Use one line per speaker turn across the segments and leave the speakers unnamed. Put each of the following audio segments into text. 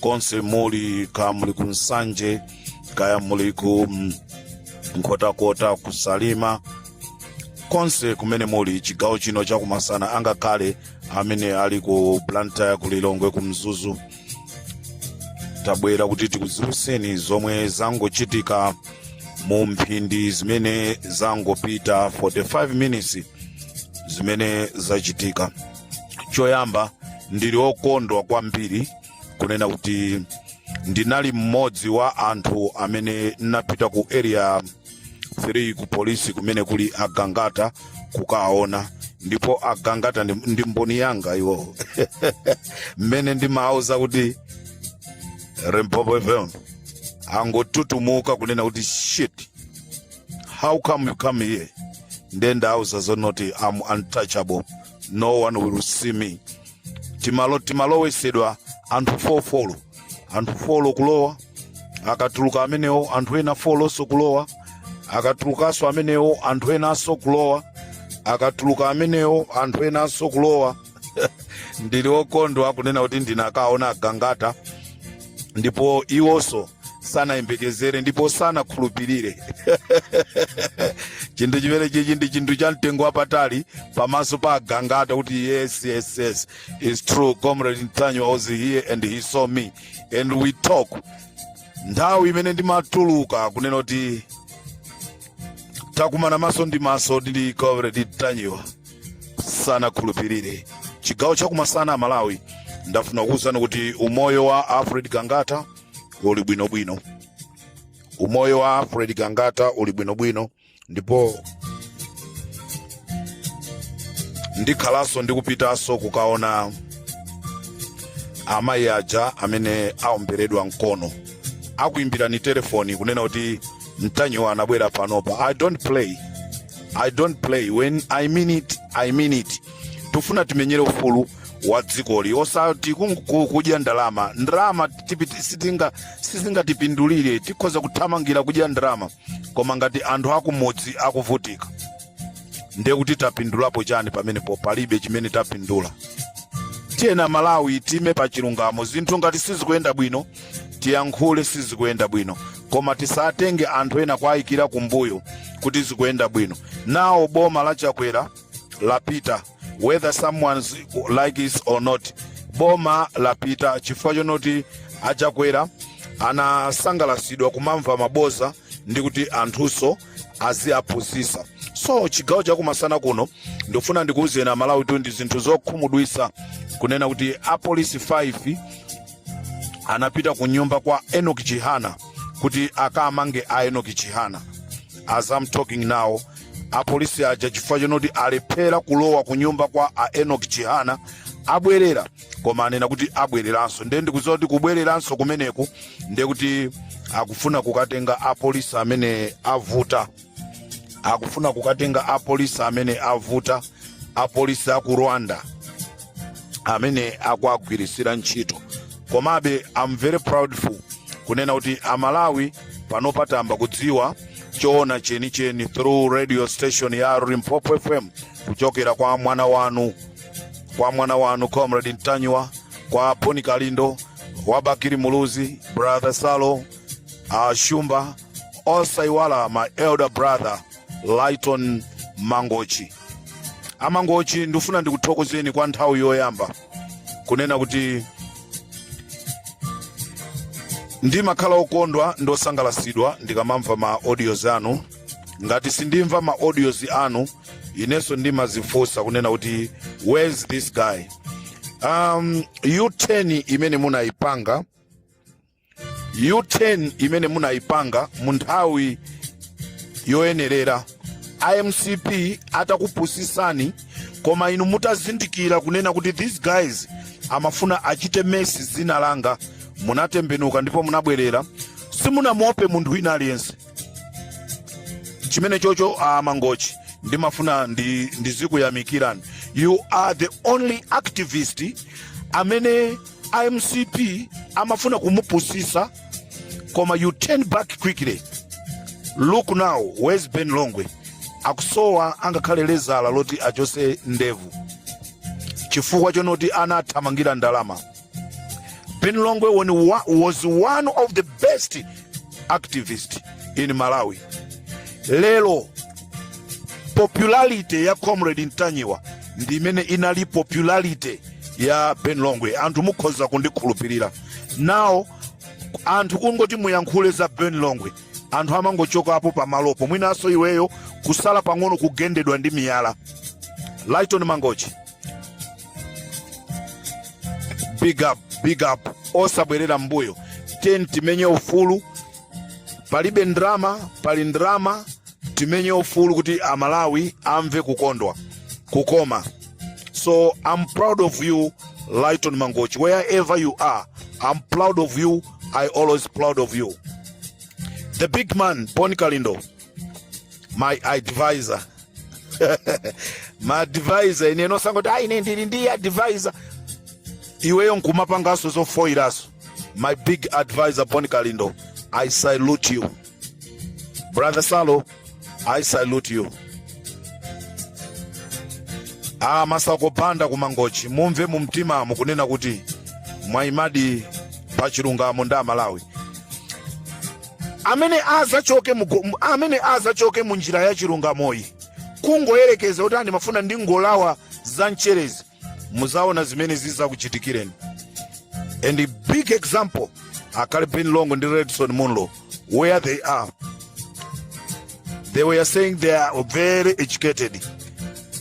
konse muli kaya muli ku nsanje kaya muli ku mm, nkhotakota ku salima konse kumene muli chigawo chino chakumasana angakhale amene ali ku blantyre ku lilongwe ku mzuzu tabwera kuti tikudziwitseni zomwe zangochitika mu mphindi zimene zangopita 45 minutes zimene zachitika choyamba ndili okondwa kwambiri kunena kuti ndinali mmodzi wa anthu amene ndinapita ku area 3 ku polisi kumene kuli agangata kukawaona ndipo agangata ndi, ndi mboni yanga iwowo mmene ndimawauza kuti limpopo fm angotutumuka kunena kuti shit how come you come here nde ndawauza zonoti am untouchable no one will see me timalo timalowesedwa anthu fofolo anthu folo kulowa akatuluka amenewo anthu ena folonso kulowa akatulukanso amenewo anthu enanso kulowa akatuluka amenewo anthu enanso kulowa ndili okondwa kunena kuti ndinakawaona agangata ndipo iwonso sanayembekezere ndipo sanakhulupirire chinthu chimene chichi ndi chinthu cha mtengo wapatali pamaso pa agangata kuti yes yes yes its true comrade ntanyiwa was here and he saw me and we talk nthawi imene ndimatuluka kunena kuti takumana maso ndi maso ndi comrade ntanyiwa sanakhulupirire chigawo chakumasana a malawi ndafuna kukuuzani kuti umoyo wa alfred gangata uli bwinobwino umoyo wa alfred gangata uli bwinobwino ndipo ndikhalanso ndikupitanso kukaona amayi aja amene aomberedwa mkono akuimbirani telefoni kunena kuti ntanyiwa anabwera panopa i don't play i don't play when i mean it i mean it tikufuna timenyere ufulu wa dzikoli osati kung- ku- kudya ndalama ndalama tipiti- sitinga- sizingatipindulire tikhoza kuthamangira kudya ndalama koma ngati anthu akumudzi akuvutika ndiye kuti tapindulapo chani pamenepo palibe chimene tapindula tiyeni amalawi time pa chilungamo zinthu ngati sizikuyenda bwino tiyankhule sizikuyenda bwino koma tisatenge anthu ena kuwayikira kumbuyo kuti zikuyenda bwino now boma la chakwera lapita whether someone like it or not boma lapita chifukwa chonoti achakwera anasangalasidwa kumamva maboza ndi kuti anthuso aziaphunzisa so chigawo cha kumasana kuno ndikufuna ndikuwuzeni amalawi kuti ndi zinthu zokhumudwisa kunena kuti apolisi 5 anapita ku nyumba kwa enoki chihana kuti akamange a enoki chihana as i'm talking now apolisi aja chifukwa chonoti alephera kulowa ku nyumba kwa a enok chihana abwerera koma anena kuti abwereranso ndiye ndikuziwa kuti kubwereranso kumeneku ndiye kuti akufuna kukatenga apolisi amene avuta apolisi aku rwanda amene akuwagwiritsira ntchito komabe am very proudful kunena kuti amalawi pano patamba kudziwa choona chenicheni through radio station ya limpopo fm kuchokera kwa mwana wanu comrade ntanyiwa kwa bon kalindo wa bakili muluzi brother salo a shumba osaiwala my elder brother lighton mangochi a mangochi ndifuna ndikuthokozeni kwa nthawi yoyamba kunena kuti ndimakhala okondwa ndi osangalasidwa ndikamamva ma audios anu ngati sindimva ma audios anu inenso ndimazifunsa kunena kuti where's this guy um, u-turn imene munayipanga u-turn imene munayipanga mu nthawi yoyenerera a mcp atakupusisani koma inu mutazindikira kunena kuti these guys amafuna achite mess dzina langa munatembenuka ndipo munabwerera simunamuope munthu wina aliyense chimenecho cho a mangochi ndimafuna ndi- ndizikuyamikirani you are the only activist amene a mcp amafuna kumupusisa koma you turn back quickly look now where's ben longwe akusowa angakhale lezala loti achose ndevu chifukwa chonoti anathamangira ndalama ben longwe when wa- was one of the best activists in malawi lero popularity ya comrade ntanyiwa ndi imene inali popularity ya ben longwe anthu mukhoza kundikhulupirira now anthu kungoti muyankhule za ben longwe anthu amangochokapo pamalopo mwinanso iweyo kusala pang'ono kugendedwa ndi miyala lighton mangochi big up big up osabwerera mbuyo ten timenye ufulu palibe ndrama pali ndrama timenye ufulu kuti amalawi amve kukondwa kukoma so i'm proud of you lighton mangochi wherever you are i'm proud of you i always proud of you the big man bon kalindo my advisor maadvisor ine osangoti ayi ine ndili ndi advisor iweyo nkumapanganso zofoyiranso my big advisor bon kalindo i salute you brother salo i salute you amasakupanda kumangochi mumve mu mtima mukunena kuti mwayimadi pa chilungamo ndi amalawi amene azachoke mu njira ya chilungamoyi kungoyerekeza kuti aa ndimafuna ndingolawa za mcherezi muzaona zimene zizakuchitikireni and a big example anali ben longwe ndi redson munlo where they are they were saying they are very educated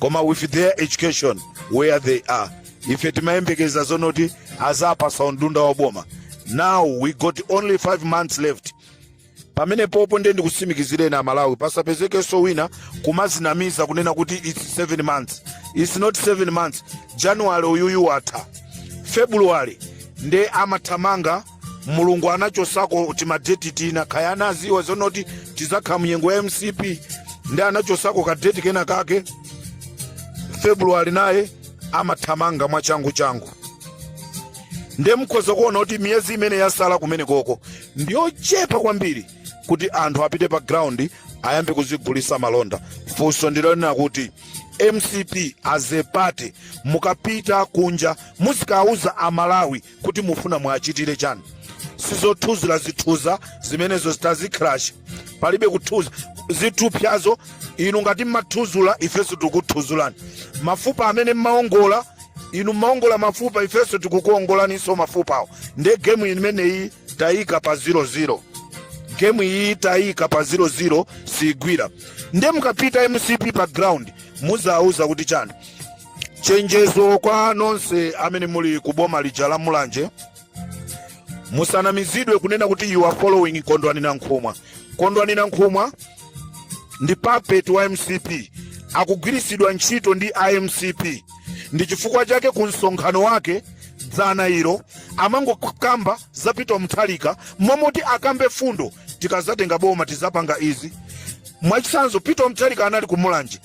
koma with their education where they are ife timayembekeza zonoti azaphwasa undunda wa boma now we got only 5 months left pamenepopo ndiye ndikusimikizireni amalawi pasapezekenso wina kumazinamiza kunena kuti its 7 months its not 7 months january uyuyu watha february nde amathamanga mulungu anachosako timadeti tina kaya anaziwa zonoti tizakhala munyengo ya mcp nde anachosako kadeti kena kake february naye amathamanga mwachangu changu ndiye mukhoza kuona kuti miyezi imene yasala kumenekoko ndiyochepa kwambiri kuti anthu apite pa ground ayambe kuzigulisa malonda funso ndilonena kuti mcp as a party mukapita kunja muzikawauza amalawi kuti mufuna mwachitire chani sizothuzula zithupya zimenezo itazicrash palibe kuthuzula zithupyazo inu ngati mmathuzula ifenso tikuthuzulani mafupa amene mmaongola inu mmaongola mafupa ifenso tikukuongolaninso mafupawo nde gemu imeneyi tayika pa 00 gemu iyi tayika pa 00 siigwira nde mukapita mcp pa ground muzawauza kuti chani chenjezo kwa nonse amene muli ku boma lija la mulanje musanamizidwe kunena kuti you are following kondwani nankhumwa kondwani nankhumwa ndi puppet wa mcp akugwiritsidwa ntchito ndi a mcp ndi chifukwa chake ku msonkhano wake dzana ilo amangokamba za peter mutharika momoti akambe fundo tikazatenga boma tizapanga izi mwachitsanzo peter mutharika anali ku mulanje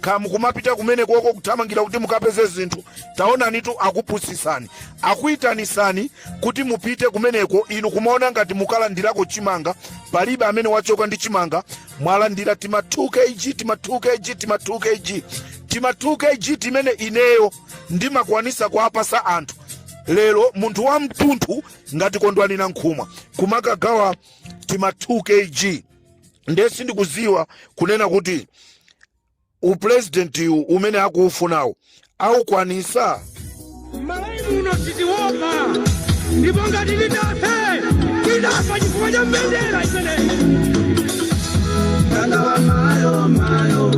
kaya mukumapita kumenekoko kuthamangira kuti mukapeze zinthu taonanitu akupusisani akuitanisani kuti mupite kumeneko inu kumaona ngati mukalandirako chimanga palibe amene wachoka ndi chimanga mwalandira tima 2 kg tima 2 kg tima 2 kg tima 2 kg timene ineyo ndimakwanisa kuapasa anthu lero munthu wa mtunthu ngati kondwani nankhumwa kumakagawa tima 2 kg ndiye sindikudziwa kunena kuti upulezidentiwu umene akuufunawo aukwanisa malawi
muno sitiwopa ndipo ngati tidafe tidafa chifukwa cha mbendera imeneyi Chikangawa mayo mayo,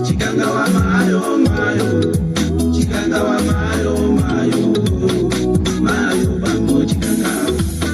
chikangawa mayo mayo, chikangawa mayo mayo, mayo bango chikangawa.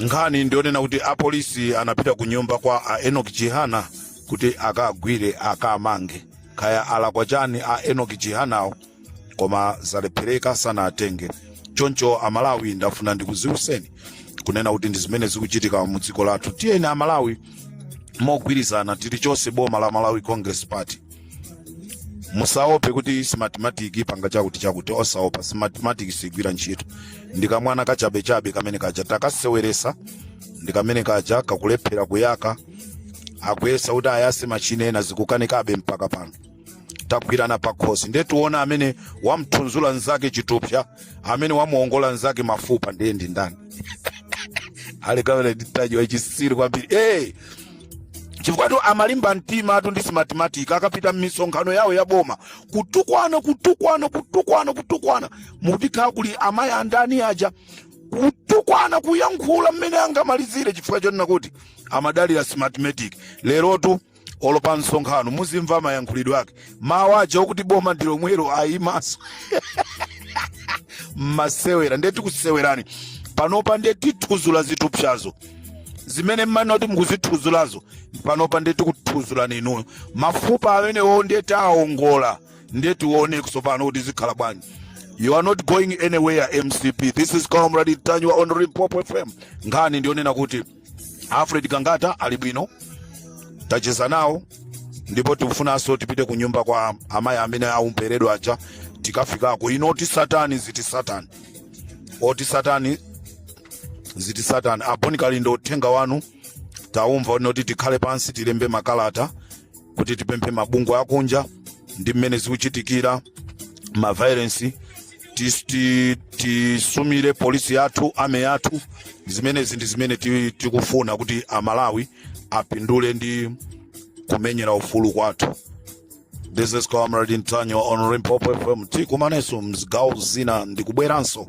nkhani ndiyonena kuti apolisi anapita ku nyumba kwa a enoki chihana kuti akagwire akamange kaya alakwa chani a enoki chihanawo koma zalephereka sanawatenge choncho amalawi ndafuna ndikuziwiseni kunena kuti ndi zimene zikuchitika mu dziko lathu tiyeni amalawi mogwirizana tili chonse boma la malawi congress party musaope kuti smartmatic ipanga chakuti chakuti osaopa smartmatic sigwira ntchito ndikamwana kachabechabe kamene kaja takaseweresa ndikamene kaja kakulephera kuyaka akuyesa kuti ayase machine ena zikukanikabe mpaka pano tagwirana pakhosi ndiye tiona amene wamthudzula nzake chithupsa amene wamuongola nzake mafupa ndiye ndi ndani ali kamene nditajiwa chisiri kwambiri hey! chifukwatu amalimba mtimatu ndi smartmatic akapita m'misonkhano yawo ya boma kutukwana kutukwana kutukwana kutukwana muti kaya kuli amayi andani aja kutukwana kuyankhula mmene angamalizire chifukwa chonena kuti amadalira smartmatic lerotu olo pa msonkhano muzimva mayankhulidwe ake mawu aja okuti boma ndi lomwelo ayimanso mumasewera ndiye tikusewerani panopa ndiye tithuzula zithupsazo zimene mmanena kuti mukuzithuzulazo panopa ndiye tikuthuzulani inuyo mafupa amenewo ndiye tawaongola ndiye tione tsopano kuti zikhala bwanji you are not going anywhere mcp this is comrade ntanyiwa on Limpopo fm nkhani ndiyonena kuti alfred gangata ali bwino tacheza nawo ndipo tikufunanso tipite ku nyumba kwa amayi amene aumberedwa aja tikafikako ino oti satani ziti satani oti satani ziti satani aboni kalindo uthenga wanu taumva woti tikhale pansi tilembe makalata kuti tipemphe mabungwe akunja ndi mmene zikuchitikira mavailensi tis- ti- tisumire polisi yathu army yathu zimenezi ndi zimene ti- tikufuna kuti amalawi apindule ndi kumenyera ufulu kwathu this is comrade ntanyiwa on limpopo fm tikumanenso mzigawo zina ndikubweranso